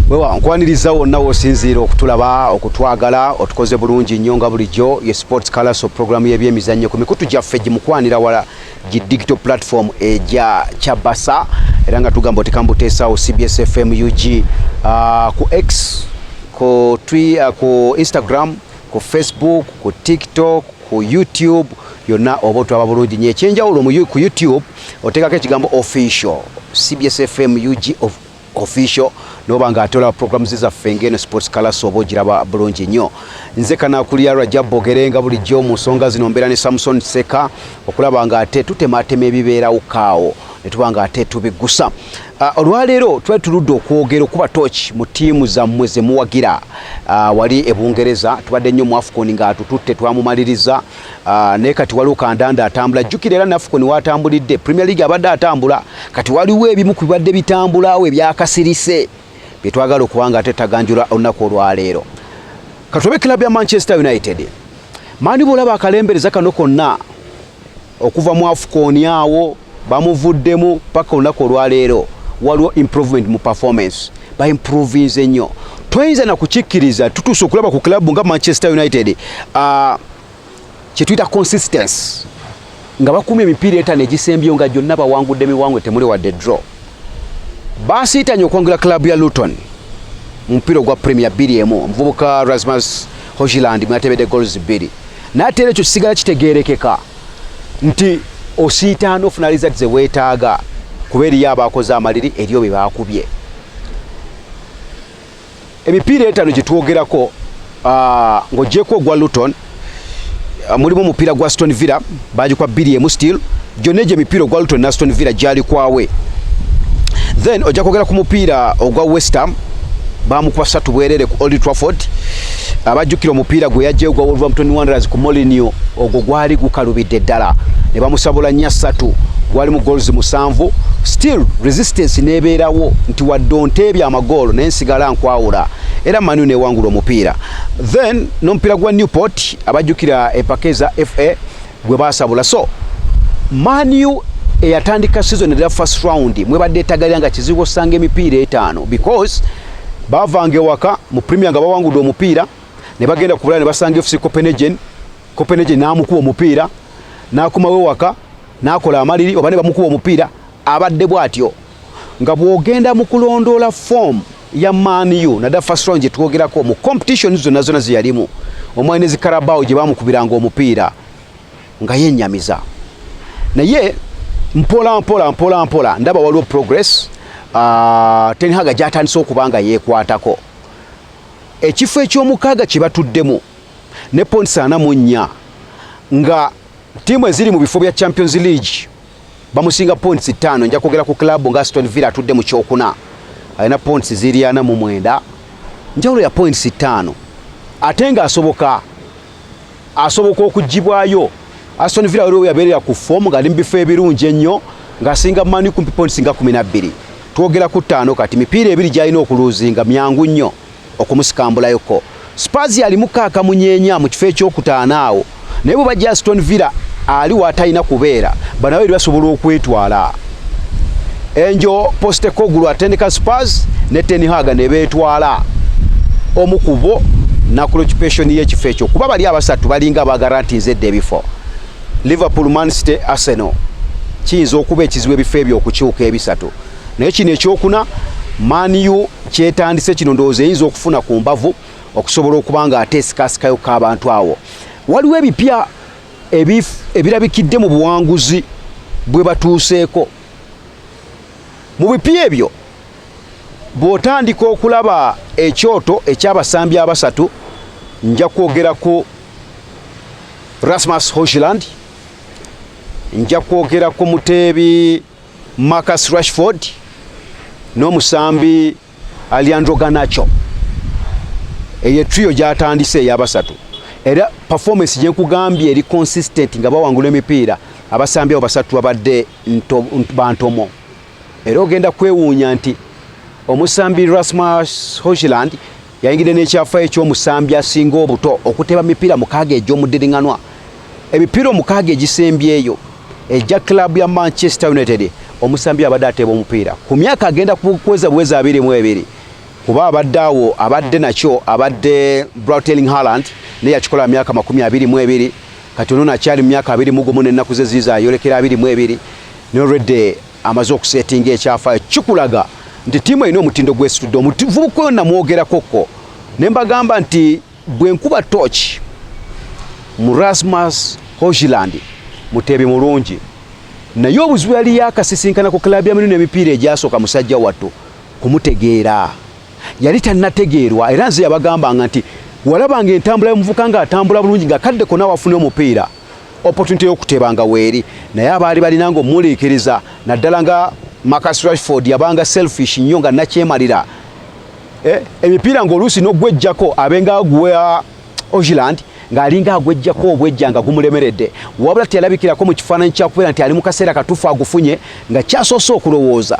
wewa nkwaniriza wonna wosinziira okutulaba okutwagala otukoze bulungi nnyo nga bulijjo ye sports calaso programu y'ebyemizannyo ku mikutu gyaffe gimukwanira wala gi digital platform egya kyabasa era nga tugamba otikambuteesaawo cbs fm ug uh, ku x ku, twi, uh, ku instagram ku facebook ku tiktok ku youtube yonna oba otwaba bulungi nyo ekyenjawulo ku youtube oteekako ekigambo official cbs fm ug of official noba nga atola programs zaffe ngeno sports class oba ogiraba bulungi nnyo nze kanakulira rajab bogerenga bulijjo mu nsonga zino mbeera ne samson seka okulaba nga ate tutematema ebibeerawo kaawo netuba nga ate tubiggusa ah, olwaleero twali tuludde okwogera okuba tooki mu tiimu zammwe zemuwagira ah, wali ebungereza tubadde nnyo mu afcon nga tututte twamumaliriza Ah, naye kati waliwo kandanda atambula jjukira era nafukoni watambulidde premier league abadde atambula kati waliwo ebimu ku bibadde bitambulawo ebyakasirise byetwagala okuba nga ate taganjula olunaku olwaleero katobe club ya manchester united mani bwolaba akalembereza kano konna okuva mu afukoni awo bamuvuddemu paka olunaku olwaleero waliwo improvement mu performance baimprovinze nnyo toyinza nakukikkiriza tutuuse okulaba ku club nga manchester united uh, kyetuyita consistency nga bakuuma emipiira etano egisembyeyo nga gyonna bawangudde miwangwe temuli wadde draw basiitanye okwangula club ya luton mu mupiira ogwa premier bbiri emu omuvubuka rasmus hogiland mwatebedde gols bbiri naye ate era ekyo kisigala kitegeerekeka nti osiitaana ofuna lizati ze weetaaga kuba eriyo abaakoze amaliri eriyo bye baakubye emipiira etaano gye twogerako ah, ng'ogyeko ogwa luton ah, mulimu omupiira gwa stone villa baagikwa bbiri emu steel gyonna egyo emipiira ogwa luton na stone villa gyalikwawe then ojja kwogera ku mupiira ogwa westham bamukuba satu bwerere ku Old Trafford abajjukira omupiira gwe yajja ogwa Wolverhampton Wanderers ku Mourinho ogwo gwali gukalubidde ddala ne bamusabula nnya ssatu gwali mu goals musanvu still resistance nebeerawo nti wadde onteebya amagoolo naye nsigala nkwawula era manu newangula omupiira then n'omupiira gwa Newport abajjukira empaka eza FA gwe basabula so manu eyatandika season era first round mwebadde etagalira nga kizibu osanga emipiira etaano because bavanga ewaka mu premier nga bawangudde omupiira ne bagenda kubulala ne basanga fc copenhagen copenhagen n'amukuba omupiira n'akomawo ewaka n'akola amaliri oba ne bamukuba omupiira abadde bw'atyo nga bw'ogenda mu kulondoola foomu ya Man U na da first round gyetwogerako mu competition zonna zonna zeyalimu omwali ne zikarabao gye bamukubiranga omupiira nga yenyamiza naye mpola mpola mpola mpola ndaba waliwo progress uh, Ten Hag gyatandise okuba nga yeekwatako ekifo eky'omukaaga kye batuddemu ne points ana mu nnya nga ttiimu eziri mu bifo bya Champions League bamusinga points ttaano nja kwogera ku club nga Aston Villa atudde mu kyokuna alina points ziri ana mu mwenda njawulo ya points ttaano ate nga asoboka asoboka okugibwayo Aston Villa waliwo yabeerera ku fomu ng'ali mu bifo ebirungi ennyo ng'asinga mani kumpi points nga kumi na bbiri twogera ku ttaano kati mipiira ebiri gy'alina okuluuzinga myangu nnyo okumusikambulayo ko Spurs yali mukaaka munyeenya mu kifo ekyokutaano awo naye bwe bajja Aston Villa ali watalina kubeera banawe eri basobola okwetwala enjo Postecoglou atendeka Spurs ne Ten Hag ne beetwala omu ku bo nakulokipeshoni y'ekifo ekyo kuba bali abasatu balinga abagarantinze edda ebifo Liverpool, Man City, Arsenal kiyinza okuba ekizibu ebifo ebyo okukyuka ebisatu naye kino ekyokuna maniyu kyetandise kino ndowooza eyinza okufuna ku mbavu okusobola okuba nga ate esikasikayo k'abantu awo waliwo ebipya ebirabikidde mu buwanguzi bwe batuuseeko mu bipya ebyo bw'otandika okulaba ekyoto eky'abasambi abasatu nja kwogera ku rasmus hoshland nja kwogera ku muteebi Marcus Rashford n'omusambi Alejandro Garnacho eyo trio gyatandise eyabasatu era performance gyekugambye eri consistent nga bawangula emipiira abasambi abo basatu babadde bantomo era ogenda kwewuunya nti omusambi Rasmus Hojland Yayingidde n'ekyafaayo eky'omusambi asinga obuto okuteeba mipiira mukaaga egy'omuddiringanwa. Emipiira omukaaga egisembyeyo egya club ya Manchester United omusambi abadde ateeba omupiira ku myaka agenda kuweza buweza abiri mu ebiri kuba abadde awo abadde nakyo abadde Brateling Haaland naye yakikola myaka makumi abiri mu ebiri kati ono nakyali mu myaka abiri mu gumu n'ennaku ze ziiza ayolekera abiri mu ebiri n'olwedde amaze okusetinga ekyafaayo kikulaga nti tiimu erina omutindo gwesitudde omuvubuka oyo namwogerakokko ne mbagamba nti bwe nkuba tooki mu rasmus hogiland muteebi mulungi naye obuzibu yali yakasisinkana ku klabu ya mirundi emipiira egyasooka musajja wattu kumutegeera yali tannategeerwa era nze yabagambanga nti walabanga entambula y'omuvuka ng'atambula bulungi nga kadde kona wafuna omupiira opportunity y'okuteebanga weeri naye abaali balina nga omuliikiriza naddala nga Marcus Rashford yabanga selfish nnyo nga nakyemalira eh, emipiira ng'oluusi n'ogwejjako abenga agwa Ogiland ng'alinga agwejjako obwejja nga gumulemeredde wabula teyalabikirako mu kifaananyi kyakubeera nti ali mu kaseera katuufu agufunye nga kyasoose okulowooza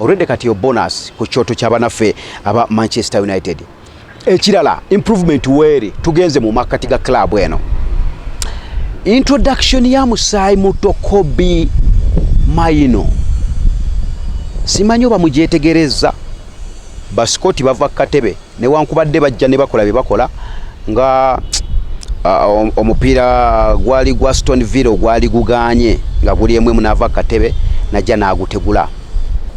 Already kati yo bonus ku kyoto kya banaffe aba Manchester United. Ekirala improvement weeri tugenze mu makkati ga club eno. Introduction ya musaayi muto Kobe Maino simanyi oba mugyetegerezza basikoti bava ku katebe newankubadde bajja ne bakola bye bakola nga omupiira gwali gwa stone villa ogwali guganye nga guli emu emu naava kukatebe najja n'agutegula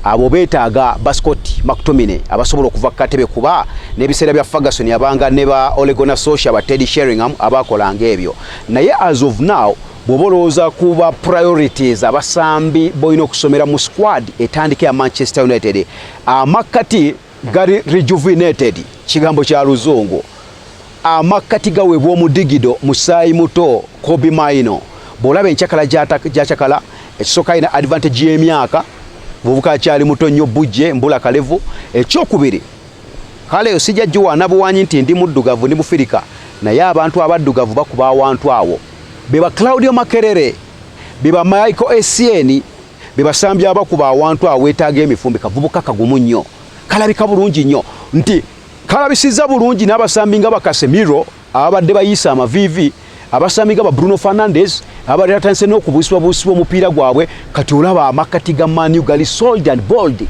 abo beetaaga bascot mactomine abasobola okuva kukatebe kuba n'ebiseera bya ferguson abanga ne ba olegona socia ba teddy sheringham abaakolanga ebyo naye as of now bwoba olowooza kuba priorities abasambi bolina okusomera mu squad etandika ya manchester united amakkati Gari rejuvenated kigambo kya luzungu. Amakkati gaweebwa omudigido musaayi muto kobi maino bw'olaba encakala gyacakala ekisooka alina advantage y'emyaka mubuka akyali muto nnyo bujje mbula kalevu ekyokubiri kale osijja giwaana buwanyi nti ndi muddugavu ndi mufirika naye abantu abaddugavu bakuba awantu awo beba claudio makerere beba michael esieni bebasambya abakuba awantu awetaaga emifumbi kavubuka kagumu nnyo kalabika bulungi nnyo nti kalabisizza bulungi n'abasambi nga bakasemiro ababadde bayiisa amaviivi abasambi nga ba bruno fernandez ababadde batandise n'okubuusibwabuusibwa omupiira gwabwe kati olaba amakkati ga manu gali sold and bold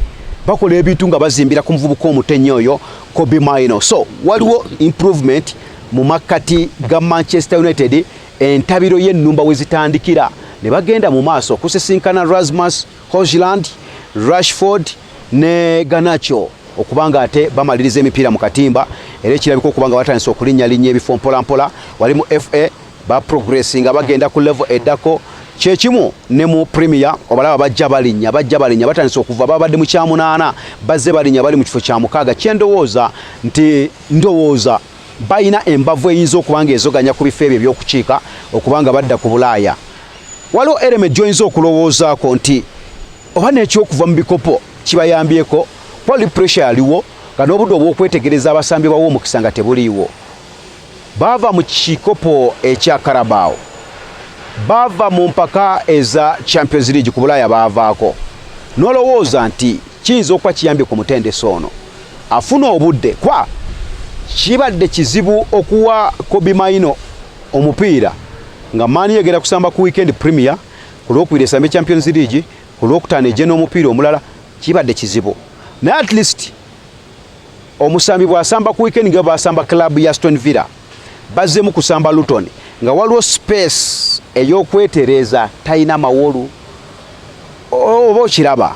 bakola ebintu nga bazimbira ku muvubuka omutenya oyo cobi mino so waliwo improvement mu makkati ga manchester united entabiro y'ennumba we zitandikira ne bagenda mu maaso okusisinkana Rasmus Hojland, Rashford ne Garnacho okuba nga ate bamaliriza emipiira mu katimba era ekirabika okuba nga batandise okulinnyalinnya ebifo mpolampola wali mu FA ba progressi nga bagenda ku level eddako kyekimu ne mu premier obalaba bajja balinnya bajja balinnya batandise okuva babadde mu kyamunaana bazze balinnya bali mu kifo kya mukaaga kyendowooza nti ndowooza balina embavu eyinza okuba nga ezoganya ku bifo ebyo ebyokukiika okuba nga badda ku bulaaya waliwo ereme gyoyinza okulowoozaako nti oba n'ekyokuva mu bikopo kibayambyeko kuba li pressure yaliwo nga n'obudde obw'okwetegereza abasambi bawo omukisa nga tebuliiwo baava mu kikopo ekya karabaawo baava mu mpaka eza champions league ku bulaaya baavaako n'olowooza nti kiyinza okuba kiyambye ku mutendesi ono afuna obudde kwa kibadde kizibu okuwa Kobe Maino omupiira nga maani yegera kusamba ku weekend premier ku lwokubiri esambe champions league ku lwokutaano egye n'omupiira omulala kibadde kizibu naye at least omusambi bwasamba ku weekend nga basamba club ya stone villa bazzemu kusamba luton nga waliwo space ey'okwetereeza talina mawolu oba okiraba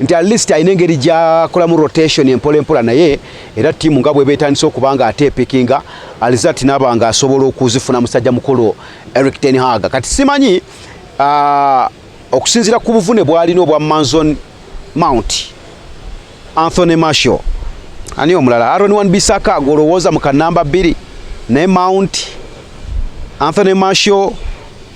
nti at least alina engeri gyakolamu rotation empola empola naye era tiimu nga bweba etandise okuba nga ate epikinga alizat naba nga asobola okuzifuna musajja mukulu eric ten hag kati simanyi uh, okusinzira ku buvune bwalina obwa manzon mount anthony marshal ani omulala aron wan bisaka golowooza mu kanamba bbiri naye mount anthony marshal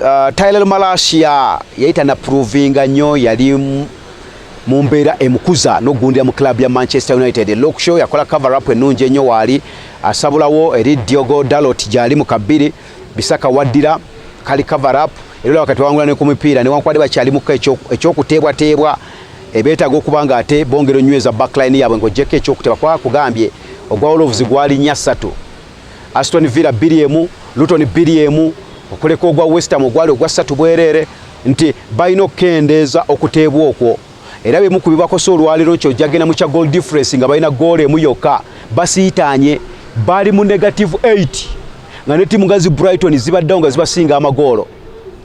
Uh, Tyler Malasia yali tanapuruvinga nnyo yali mu mbeera emukuza n'okugundira mu club ya Manchester United. Luke Shaw yakola cover up ennungi ennyo waali asabulawo eri Diogo Dalot gyali mu kabbiri Bisaka waddira kali cover up era olaba kati wangula ne ku mipiira newankubadde bakyalimuko ekyokuteebwateebwa ebeetaaga okuba nga ate bongera onyweza backline yaabwe ng'ogyeko ekyokuteebwa kuba kugambye ogwa Wolves gwalinya ssatu Aston Villa bbiri emu Luton bbiri emu okuleka ogwa West Ham ogwali ogwa ssatu bwereere nti balina okukendeeza okuteebwa okwo era bimu ku bibakosa olwaleero nti ojagenda mu kya goal difference nga balina goolo emu yokka basiitaanye bali mu negative 8 nga ne tiimu nga zi Brighton zibaddewo nga zibasinga amagoolo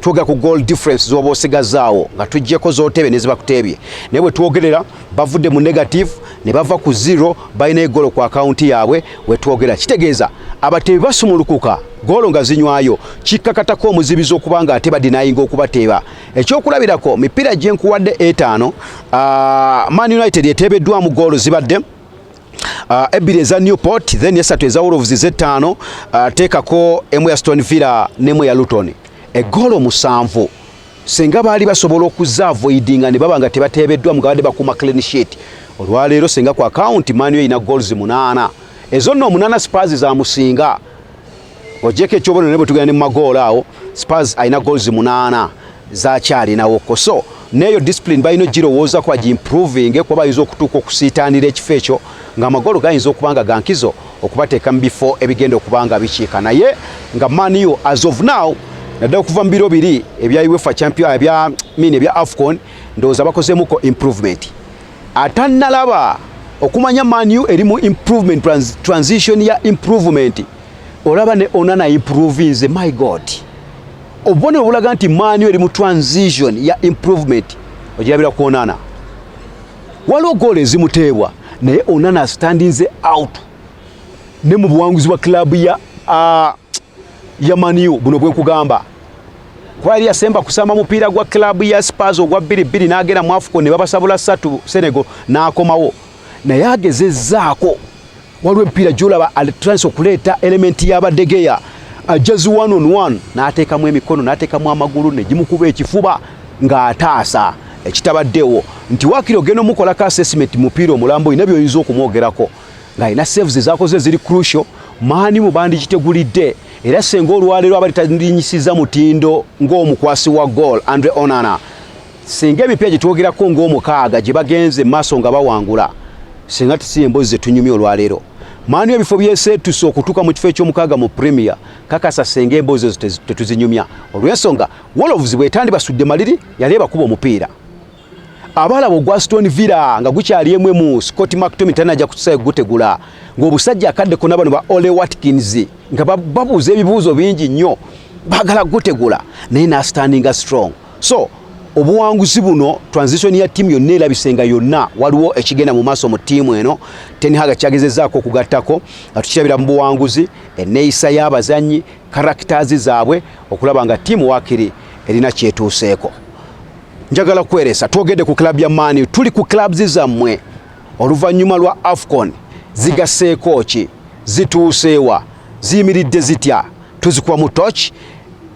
twogera ku goal difference zoba osigazaawo nga tujjeko zotebe nezibakuteebye naye bwetwogerera bavudde mu negative ne bava ku zero balina egolo ku akawunti yaabwe wetwogera kitegeeza abateebi basumulukuka goolo nga zinywayo kikkakatako omuzibizi okuba nga ate badinayinga okubateeba ekyokulabirako mipiira gyenkuwadde etaano ah, man united eteebeddwamu goolo zibadde uh, ebbiri eza Newport then esatu eza Wolves z'ettaano uh, teekako emu ya Stone Villa n'emu ya Luton eggolo musanvu senga baali basobola okuza avoidinga ne baba nga tebateebeddwa mugabadde bakuuma clean sheet olwaleero senga ku akawunti maaniyo erina goals munaana ezo nno omunaana spurs zamusinga Ng'ogyeko ekyobonero ne bwe tugenda ne mu magoolo awo Spurs alina goals munaana zakyalinawo ko so neeyo discipline balina ogirowooza kuba gimproving kuba bayinza okutuuka okusiitaanira ekifo ekyo ng'amagoolo gayinza okuba nga gankizo okubateeka mu bifo ebigenda okuba nga bikiika naye nga maniyo as of now naddala okuva mu biro biri ebya uefa champion ebya mini ebya afcon ndowooza bakozeemuko improvement atannalaba okumanya maniyo eri mu improvement transition ya improvement olaba ne onana improvinze my god obubonero obulaga nti maani eri mu transition ya improvement ogirabira ku onana waliwo goola ezimuteebwa naye onana astandinze out ne mu buwanguzi bwa club ya uh, ya maniu buno bwenkugamba kuba yali yasemba kusamba mupiira gwa club ya spars ogwa bbiri bbiri n'agenda mu afuko ne babasabula satu senegal n'akomawo naye agezezzaako waliwo ebipiira gyolaba alitandise okuleeta elementi y'abadegeya ajjazi uh, one on one n'ateekamu emikono n'ateekamu amagulu negimukuba ekifuba ng'ataasa ekitabaddewo nti wakiri ogenda omukolako assessment mupiira omulambo olina byoyinza okumwogerako ng'alina saves ezakoze ziri crucial maani mu bandikitegulidde era senga olwaleero abali talinyisiza mutindo ng'omukwasi wa goal andre onana Singa emipya gye twogerako ng'omukaaga gye bagenze mu maaso nga bawangula, singa si emboozi ze tunyumya olwaleero. Manu ebifo byeseetuse okutuuka mu kifo eky'omukaaga mu Premier, kakasa singa emboozi ezo tetuzinyumya. Olw'ensonga, Wolves bw'etandibasudde maliri, yali ebakuba omupiira. Abaalaba ogwa Aston Villa nga gukyali emu emu, Scott McTominay tanajja kutusaayo kugutegula ng'obusajja akadde kona bano ba Ole Watkins nga babuuza ebibuuzo bingi nnyo, baagala kugutegula naye n'asitandinga strong. so obuwanguzi buno transition ya tiimu yonna erabise nga yonna waliwo ekigenda mu maaso mu tiimu eno tenhaga kyagezezaako okugattako nga tukirabira mu buwanguzi enneeyisa y'abazannyi karakitazi zaabwe okulaba nga tiimu wakiri erina kyetuuseeko njagala kweresa twogedde ku club ya mani tuli ku clubs zammwe oluvannyuma lwa afcon zigaseeko ki zituuseewa ziyimiridde zitya tuzikuba mu toki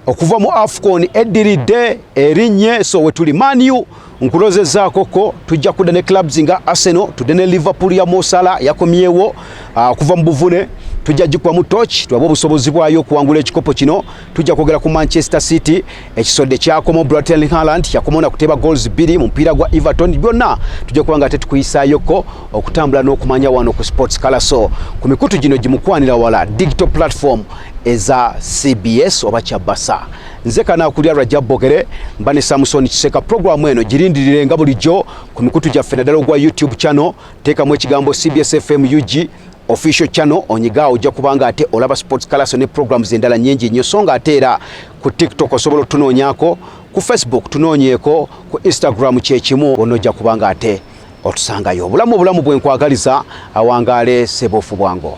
okuva mu afcon eddiridde erinnye so wetuli maniu nkulozezaakoko tujja kudda ne clubs nga arsenal tudde ne liverpool ya mosala yakomyewo ah, okuva mu buvune tujja gikuba mu toki tulabe obusobozi bwayo okuwangula ekikopo kino tujja kwogera ku manchester city ekisodde kyakomo bratelin haland yakoma na kuteba goals bbiri mu mupiira gwa everton byonna tujja kuba nga tetukuyisayoko okutambula n'okumanya wano ku sports kalaso ku mikutu gino gimukwanira wala digital platform eza cbs oba kyabasa nze kanakulya rajabogere mba ne samusoni kiseka puroguramu eno girindirire nga bulijjo ku mikutu gyaffe naddala ogwa youtube channel teekamu ekigambo cbs fm ug official channel onyiga ojja kubanga ate olaba sports kalaso ne programs endala nyingi nnyo so nga ate era ku tiktok osobola otunoonyako ku facebook tunoonyeeko ku instagram kyekimu wonna ojja kubanga ate otusangayo obulamu obulamu bwenkwagaliza awangaale sebofu bwango